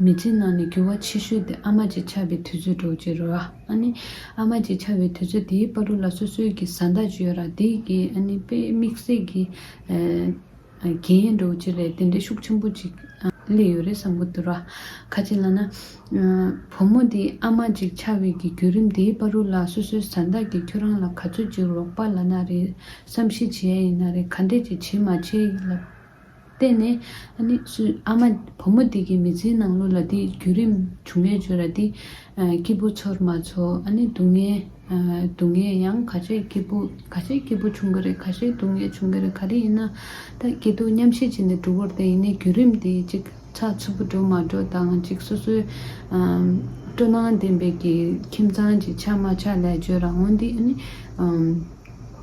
མི་ཚེའི་ནང་ནས་འགྱུར་བ་ཆེ་ཤོས་དེ་ཨ་མ་གཅིག་ཆགས་པའི་དུས་ཚོད་འགྲོ་རྒྱུ་རེད། ཨ་ནི། ཨ་མ་གཅིག་ཆགས་པའི་དུས་ཚོད་དེའི་དཔའ་རུ་ལ་སོ་སོའི་གི་བཟའ་ཟླ་བྱོས་ར་དེ་གི་ཨ་ནི་དཔེ་དམིགས་བསལ་གི་རྒྱན་ཡན་འགྲོ་རྒྱུ་རེད་དེ་འདྲའི་ཤུགས་ཆེན་པོ་གཅིག་སླེབས་ཡོད་རེད་བསམ་གི་འདུག་ར། ཁ་ཅིག་ལ་ན། བུ་མོ་དེ་ཨ་མ་གཅིག་ཆགས་བའི་གི་བརྒྱུད་རིམ་དེའི་དཔའ་རུ་ལ་སོ་སོའི་བཟའ་ཟླ་གི་ཁྱོད་རང་ལ་ག་ཚོད་ཅིག་རོགས་པ་ལ་ན་རེ་བསམ་ཤེས་བྱེད་ཡ་ཡིན་ན་རེ་ག་འདྲས་ཀྱི་བྱེད་མ་བྱེད་ལབ། བལྟས་ནས། ཨ་ནི། ཨ་མ། བུ་མོ་འདི་གི་མི་ཚེའི་ནང་ལོ་ལ་འདི་བརྒྱུད་རིམ་བྱུང་ཡོད་བརྗོད་ར་འདི། སྐྱིད་པོ་ཚོར་མ་ཚོར་ཨ་ནི་སྡུག་བསྔལ། སྡུག་བསྔལ་ཡང་ག་ཤེད་སྐྱིད་པོ་ག་ཤེད་སྐྱིད་པོ་བྱུང་གི་རེད་ག་ཤེད་སྡུག་བསྔལ་བྱུང་གི་རེད་ག་རེ་ཡིན་ན། ད་སྐྱིད་སྡུག་མཉམ་བཞེས་བྱས་ནས་འགྲོ་བར་བལྟས་ཡིན་ནའི་བརྒྱུད་རིམ་འདི་གཅིག་ཚགས་ཚུད་པོ་འགྲོ་མ་འགྲོ་དང་གཅིག་སོ་སོའི། སྤྲོ་སྣང་ལྡན་པའི་གི་ཁྱིམ་ཚང་གི་ཆ་མ་ཆ་ལས་བརྗོད་ར་འོང་འདི་ཨ་ནི།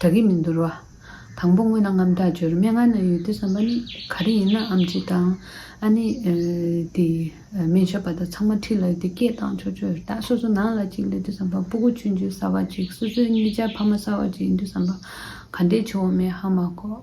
དྲག་གི་མི་འདུར་བ། དང་པོ་དངོས་ན་རྔམ་དྲག་སྦྱོར་མན་ངག་ན་ཡོད་དུས་བསམ་པ་ནི་ག་རེ་ཡིན་ན་འམ་ཅི་དང། ཨ་ནི། དེ། མན་ཆོད་པ་དང་ཚང་མ་ཁྲིད་ལ་ཡོད་དུས་སྐད་གཏང་ཆོག་ཆོག་རེད་ད་སོ་སོ་ནང་ལ་གཅིག་སླེབས་དུས་བསམ་པ་སྤུ་གུ་ཆུན་ཆུན་གསར་བ་གཅིག་སོ་སོའི་གཉིས་ཆ་ཕ་མ་གསར་བ་གཅིག་ཡིན་དུས་བསམ་པ་ག་འདྲའི་ཆུ་བོ་མེད་ཧ་མ་གོ།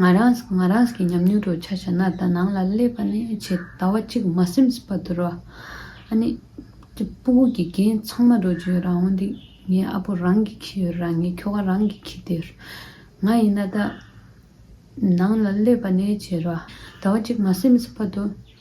ང་རངས་ང་རངས་ཀྱི་ཉམས་མྱོང་རོ་ཆ་བྱ་ན་ད་ནང་ལ་སླེབས་པ་ནས་ཇི་ད་བ་གཅིག་མ་སེམས་སི་པ་དུ་རོ། ཨ་ནི། ཀྱི་སྤུ་གུ་གི་རྒན་ཚང་མ་འགྲོ་རྗོད་རང་འོང་འདི། ངའི་ཨ་ཕོ་རང་གི་ཁྱི་ཡོད་རང་ངའི་ཁྱོ་ག་རང་གི་ཁྱི་དེ། ང་ཡིན་ན་ད། ནང་ལ་སླེབས་པ་ནས་ཇི་རོ། ད་བ་གཅིག་མ་སེམས་སི་པ་དུ།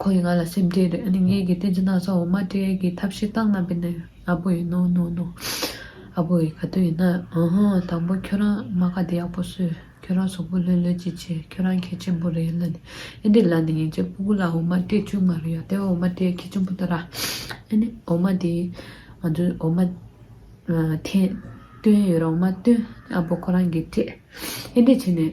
ཁོ་ཡིས་ང་ལ་སེམས་ཁྲལ་རེད་ཨ་ནི་ངའི་གི་ཏན་ཅི་ན་ས་འོ་མ་སྤྲེལ་གི་ཐབས་ཤེས་སྟངས་རྣམ་པས་ནི་ཨ་བོ་ཡིས་ནོ་ནོ་ནོ་ཨ་བོ་ཡིས་ག་དུས་ཡིན་ན་ཨུ་ཧུ་དང་པོ་ཁྱོད་རང་མ་ག་དེ་ཡག་པོ་གསོས་ཁྱོད་རང་ཟོག་པོ་ལོན་ལོན་ཅིག་བྱས་ཁྱོད་རང་ཁྱེད་ཆེན་པོ་རེད་ལ་ནི་ཨེ་འདི་ལ་ནི་ངེད་ཅག་སྤུ་གུ་ལ་འོ་མ་སྤྲེལ་ཅུང་མ་རེད་ཡ་དེ་འོ་མ་སྤྲེལ་ཁྱེད་ཆེན་པོ་ཏོ་ར་ཨེ་ནི་འོ་མ་དེ་ང་ཚོས་འོ་མ་འཐེན་བཏོན་ཡོད་ར་འོ་མ་བཏོན་ཨ་བོ་ཁོ་རང་གིས་སྤྲད་ཨེ་འདི་བྱས་ནས།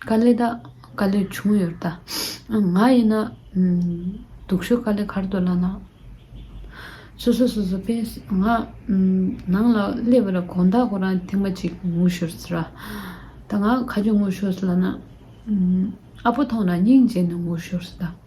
དཀའ་ལས་དག་དཀའ་ལས་བྱུང་ཡོད་ད་ང་ཡིན་ན་སྡུག་ཤོས་དཀའ་ལས་གར་དུ་བླངས་ན་སོ་སོ་སོ་སོ་ཕན་ང་ནང་ལ་སླེབས་པ་ལ་གོང་ད་ཁོ་རང་ཐེངས་མ་གཅིག་ངུ་ཤོར་ཟེར་ར་ད་ང་ཁ་ཆུ་ངུ་ཤོར་ཟེར་ལ་ན་ཨ་ཕོ་མཐོང་ན་སྙིང་རྗེ་ནས་ངུ་ཤོར་ཟེར་ད།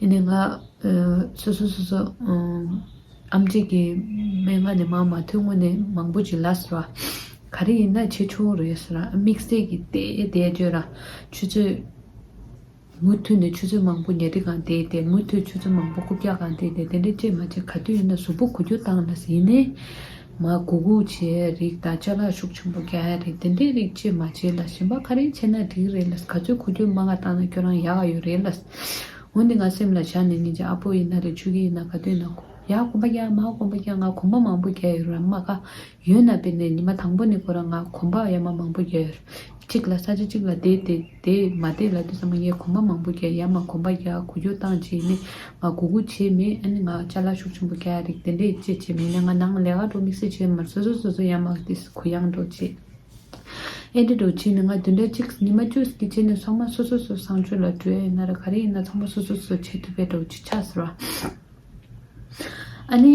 ཡིན་ནའི་ང། སོ་སོ་སོ་སོ། ཨམ་གཙིགས་ཀྱི་སྨན་ང་ནས་མང་མ་ཐོས་སྔོན་ནས་མང་པོ་བྱིན་ལགས་ཟེར་བ། ག་རེ་ཡིན་ན་ཆེ་ཆུང་རེད་ཟེར་ར་དམིགས་བསལ་གྱི་དེ་དེ་བརྗོད་ར། ཆུ་ཚོད། མུ་མཐུད་ནས་ཆུ་ཚོད་མང་པོ་ཉལ་ཁྲི་གང་དེ་དེ་མུ་མཐུད་ཆུ་ཚོད་མང་པོ་རྐུབ་བཀྱག་གང་དེ་དེ་དེ་འདྲ་བཅས་མ་བྱེད་ག་དུས་ཡིན་ན་གཟུགས་པོ་གུ་རྒྱུ་བཏང་ན་ཟེར་ཡིན་ནའི། མ་གུ་གུ་བྱའི་རིགས་དང་བཅའ་ལག་ཤུགས་ཆེན་པོ་རྒྱག་ཡ་རེད་དེ་འདྲའི་རིགས་ཅིས་མ་བྱས་ལ་ཞེན་པ་ག་རེ་བྱས་ན་འགྲིག་རེད་ལ་ག་ཚོད་གོ་རྒྱུ་མ་ག་བཏང་ན་ཁྱོད་རང་ཡག་ག་ཡོད་རེད་ལ། འོན་ཏེ་ང་སེམས་ལ་བཞག་ནས་ངེད་ཅག་ཨ་ཕོ་ཡིན་ན་རེད་ཆོས་ཀྱི་ཡིན་ན་ག་དུས་ན་གོ་ཡ་གོམ་པ་རྒྱག་མ་གོམ་པ་རྒྱག་ང་གོམ་པ་མང་པོ་རྒྱག་ཡོད་རེད་མ་ག་ཡོད་ན་དཔེར་ན་ཉི་མ་དང་པོ་ནས་ཁོ་རང་ང་གོམ་པ་ཡ་མ་མང་པོ་རྒྱག་ཡོད་རེད། གཅིག་ལ་ས་ཆ་གཅིག་ལ་བསྡད་དེ་དེས་མ་བསྡད་ལ་དེ་ཚང་མ་ངས་གོམ་པ་མང་པོ་རྒྱག་ཡ་མ་གོམ་པ་རྒྱག་གོ་རྒྱོ་བཏང་བྱས་ནས་ང་སྒུག་སྒུག་བྱས་མེད་ཨ་ནི་ང་ལྕ་ལག་ཤུགས་ཆེན་པོ་རྒྱག་ཡ་རེད་དེ་འདྲས་ཅེས་བྱས་མེད་ནས་ང་ནང་ལ་ལས་ཀ་འགྲོ་དམིགས་བསལ་བྱས་མ་རེད་སོ་སོ་སོ་སོ་ཡ་མ་དེ་གུ་ཡངས་འགྲོ་བྱས་ཨེ་འདྲས་འགྲོ་བྱས་ནས་ང་དེ་འདྲས་གཅིག་ཉི་མ་བཅུ་ཟིག་གི་རྗེས་ནས་ཚང་མ་སོ་སོ་སོ་བསང་མཆོད་ལ་བྲོས་ཡ་ཡིན་ན་རེད་ག་རེ་ཡིན་ན་ཚང་མ་སོ་སོ་སོ་བྱེད་ཐུབ་པས་འགྲོ་བྱས་ཆ་ཟེར་བ་ཨ་ནི།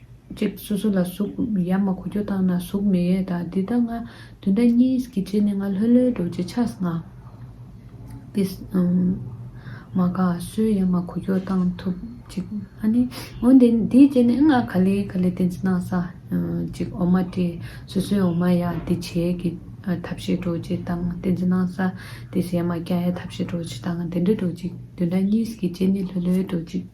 གཅིག། སོ་སོ་ལ་གཟུགས་ཡབ་མ་གོ་རྒྱུ་བཏང་ན་གཟུགས་མེད་ཡས་དང་འདི་ལྟ་ང། དུས་འདའ་གཉིས་ཀྱི་རྗེས་ནི་ང་ལྷོད་ལྷོད་འགྲོ་ཅི་ཆགས་ང། ཏིས། མ་ག་སོའི་ཡབ་མ་གོ་རྒྱུ་བཏང་ཐུབ་གཅིག། ཨ་ནི། འོན་ཏེ་དེའི་རྗེས་ནི་ང་ག་ལེ་ག་ལེ་ཏིས་ན་ས། གཅིག་འོ་མ་ཏི་སོ་སོའི་འོ་མ་ཡ་ཏི་བྱས་ཀྱི་ཐབས་ཤེས་འགྲོ་ཅི་བཏང་ཏིས་ན་ས། ཏིས་ཡབ་མ་སྐྱ་ཡ་ཐབས་ཤེས་འགྲོ་ཅི་བཏང་དེ་འདྲ་འགྲོ་གཅིག་དུས་འདའ་གཉིས་ཀྱི་རྗེས་ནི་ལྷོད་ལྷོད་འགྲོ་གཅིག།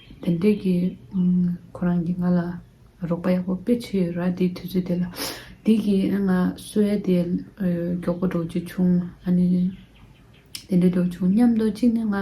དེ་འདྲས་ཀྱི། ཁོ་རང་གིས་ང་ལ་རོགས་པ་ཡག་པོ་སྤེལ་ཆེད་ཡོད་ར་དེའི་དུས་ཚོད་དེ་ལ། དེ་གི་ང་སུ་ཨེ་དེ། མགྱོགས་པོ་འགྲོ་རྒྱུ་བྱུང། ཨ་ནི། དེ་འདྲས་འགྲོ་བྱུང་སྙམ་དུ་གཅིག་ནི་ང།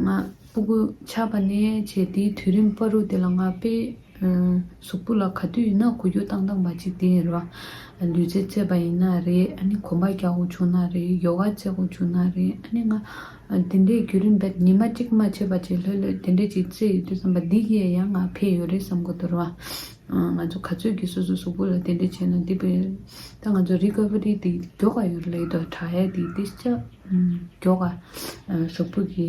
ང་སྤུ་གུ་ཆགས་པ་ནས་བྱས་དེའི་དུས་རིམ་པ་རུ་དེ་ལ་ང་དཔེ། གཟུགས་པོ་ལ་ག་དུས་ཡིན་ན་གོ་རྒྱུ་བཏང་བཏང་བ་ཅིག་དེ་ཡིན་རོགས། ལུས་རྩལ་རྩེད་པ་ཡིན་ན་རེད་ཨ་ནི་གོམ་པ་རྒྱག་དགོས་བྱུང་ན་རེད་ཡོ་ག་རྩེད་དགོས་བྱུང་ན་རེད་ཨ་ནི་ང། དེ་འདྲའི་བརྒྱུད་རིམ་འདིར་ཉི་མ་གཅིག་མ་ཕྱེད་པ་ཅིག་ལྷོད་ལྷོད་དེ་འདྲས་ཅིག་རྩེད་ཡོད་དུས་བསམ་པ་འདི་ཡས་ཡང་ང་ཕེད་ཡོད་རེད་བསམ་གོ་ཐོར་བ། ང་ཚོ་ག་ཚོད་ཀྱིས་སོ་སོའི་གཟུགས་པོ་ལ་དེ་འདྲས་བྱས་ན་འདི་ཕེད་ཡོད་རེད། ད་ང་ཚོ Recovery དེ་མགྱོགས་ག་ཡོད་རེད་ལེགས་འདུག་དྲག་ཡས་དེ་འདི་ཅག་མགྱོགས་ག། གཟུགས་པོ་གི།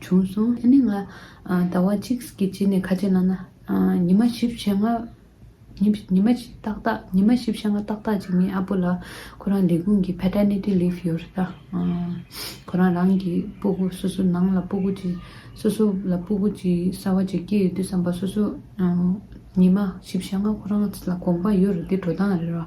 བྱུང་སོང། དེ་ནས་ང་ཟླ་བ་གཅིག་གི་རྗེས་ནས་ཁ་ཆེ་བླངས་ན། ཉི་མ་བཞི་བཤས་ལྔ། ཉི་མ་བཞི་ཏག་ཏག་ཉི་མ་བཞི་བཤས་ལྔ་ཏག་ཏག་ཅིག་ངའི་ཨ་ཕོ་ལ་ཁོ་རང་ལས་ཁུངས་ཀྱི Paternity Leave ཡོད་རེད་ད། ཁོ་རང་རང་གི་སྤུ་གུ་སོ་སོ་ནང་ལ་སྤུ་གུ་ཅིག་སོ་སོ་ལ་སྤུ་གུ་ཅིག་གསར་བ་ཅིག་སྐྱེས་ཡོད་དུས་བསམ་པ་སོ་སོ། ཉི་མ་བཞི་བཤས་ལྔ་ཁོ་རང་ལ་དགོངས་པ་ཡོད་རེད་དེ་འགྲོ་སྟངས་རེད་ར།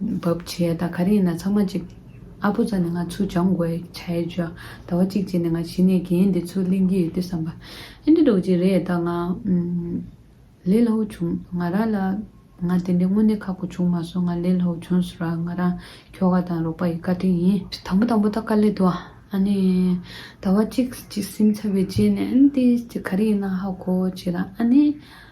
བབ་བྱས་ད་ག་རེ་ཡིན་ན་ཚང་མ་གཅིག། ཨ་ཕོ་ཙཱ་ནི་ང་ཚོས་སྦྱོང་དགོས་བྱས་བྱོས། ཟླ་བ་གཅིག་རྗེས་ནས་ང་གཞི་ནས་རྒན་འདི་ཚོ་གླེང་གི་ཡོད་དུས་བསམ་པ། ཨེ་འདྲ་འགྲོ་གི་ཅིག་རེད་ད་ང། ལས་སླ་བོ་བྱུང་ང་རང་ལ། ང་དེ་འདྲའི་དངོས་གནས་ཁག་པོ་བྱུང་མ་སོང་ང་ལས་སླ་བོ་བྱུང་ཟེར་བ་ང་རང་ཁྱོ་ག་དང་རོགས་པ་ཡི་བཀའ་དྲིན་ཡིན། དང་པོ་དང་པོ་ད་དཀའ་ལས་འདུག་ཨ་ནི། ཟླ་བ་གཅིག་གཅིག་སེམས་འཚབ་བའི་རྗེས་ནས་ཨེ་འདི་ཅིག་ག་རེ་ཡིན་ན་ཧ་གོ་བྱས་ད་ཨ་ནི།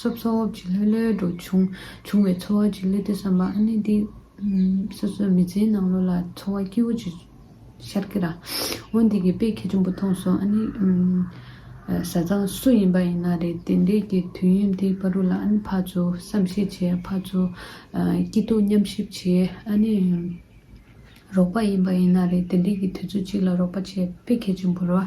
སོབ་སོབ་ཀྱི་ལྷོད་ལྷོད་འགྲོ་བྱུང་བྱུང་བའི་ཚོར་བ་ཅིག་སླེབས་ཏེ་བསམ་པ་ཨ་ནི་འདི། སོ་སོའི་མི་ཚེའི་ནང་ལོ་ལ་འཚོ་བ་སྐྱིད་བོ་ཅིག་ཤར་གི་ར། འོ་འདི་གི་དཔེ་ཁྱད་ཆེན་པོ་མཐོང་སོང་ཨ་ནི། བཟའ་ཚང་སུ་ཡིན་པ་ཡིན་ན་རེད་དེ་འདྲས་ཀྱི་དུས་ཡུན་དེའི་བར་རུ་ལ་ཨ་ནི་ཕར་ཚུར་བསམ་གཞིག་བྱས་ཕར་ཚུར། སྐྱིད་སྡུག་མཉམ་གཤིབ་བྱས་ཨ་ནི། རོགས་པ་ཡིན་པ་ཡིན་ན་རེད་དེ་འདྲས་ཀྱི་དུས་ཚོད་ཅིག་ལ་རོགས་པ་བྱས་དཔེ་ཁྱད་ཆེན་པོ་ར།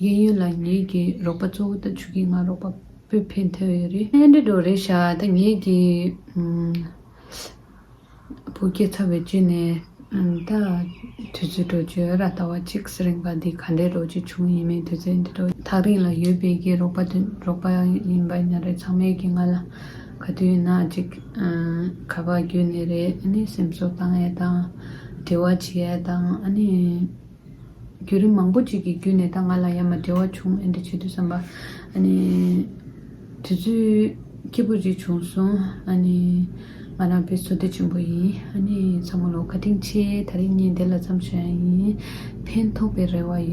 གཡས་གཡོན་ལ་ངེད་ཀྱི་རོགས་པ་གཙོ་བོ་ད་ཆུ་ཁའི་ང་རོགས་པ་པོས་ཕན་ཐོགས་ཡོད་རེད། ཨེ་འགྲིག་འགྲོ་རེད་ཤག་ད་ངེད་ཀྱི་བུ་སྐྱེས་ཚབ་བེད་སྤྱོད་ནས་ད་དུས་ཚོད་འགྲོ་རྒྱུ་ཨ་ར་ཟླ་བ་གཅིག་གསེར་རིང་པ་འདི་ག་འདྲའི་འགྲོ་རྒྱུ་བྱུང་ཡིན་མིན་དུས་ཚོད་འདི་འགྲོ། ཐག་རིང་ལ་ཡོད་པའི་ཀྱི་རོགས་པ་དུས་རོགས་པ་ཡིན་པ་ཉག་རེ་ཚང་མས་ཀྱི་ང་ལ་ག་དུས་ཡིན་ན་ཅིག་ཁ་བ་བརྒྱུད་ནས་རེད་ཨ་ནི་སེམས་གསོ་བཏང་ཡས་དང་འབྲེལ་བ་བྱེད་ཡས་དང་ཨ་ནི། བརྒྱུད་རིམ་མང་པོ་ཅིག་གི་བརྒྱུད་ནས་ད་ང་ལ་ཡ་མ་བྲལ་བ་བྱུང་ཨེ་འདྲ་བྱེད་དུས་བསམ་པ། ཨ་ནི། དུས་ཚོད། སྐྱིད་པོ་ཅིག་བྱུང་སོང་ཨ་ནི། ང་རང་བོད་བཟོ་སྡོད་ཆེན་པོ་ཡིན་ཨ་ནི། ཚ་མོ་ལོ་ག་དྲིན་ཆེ་ད་རེས་ངས་འདི་ལ་བརྩམས་ཤོག་ཡ་ཡིན། ཕན་ཐོགས་པའི་རེ་བ་ཡོད།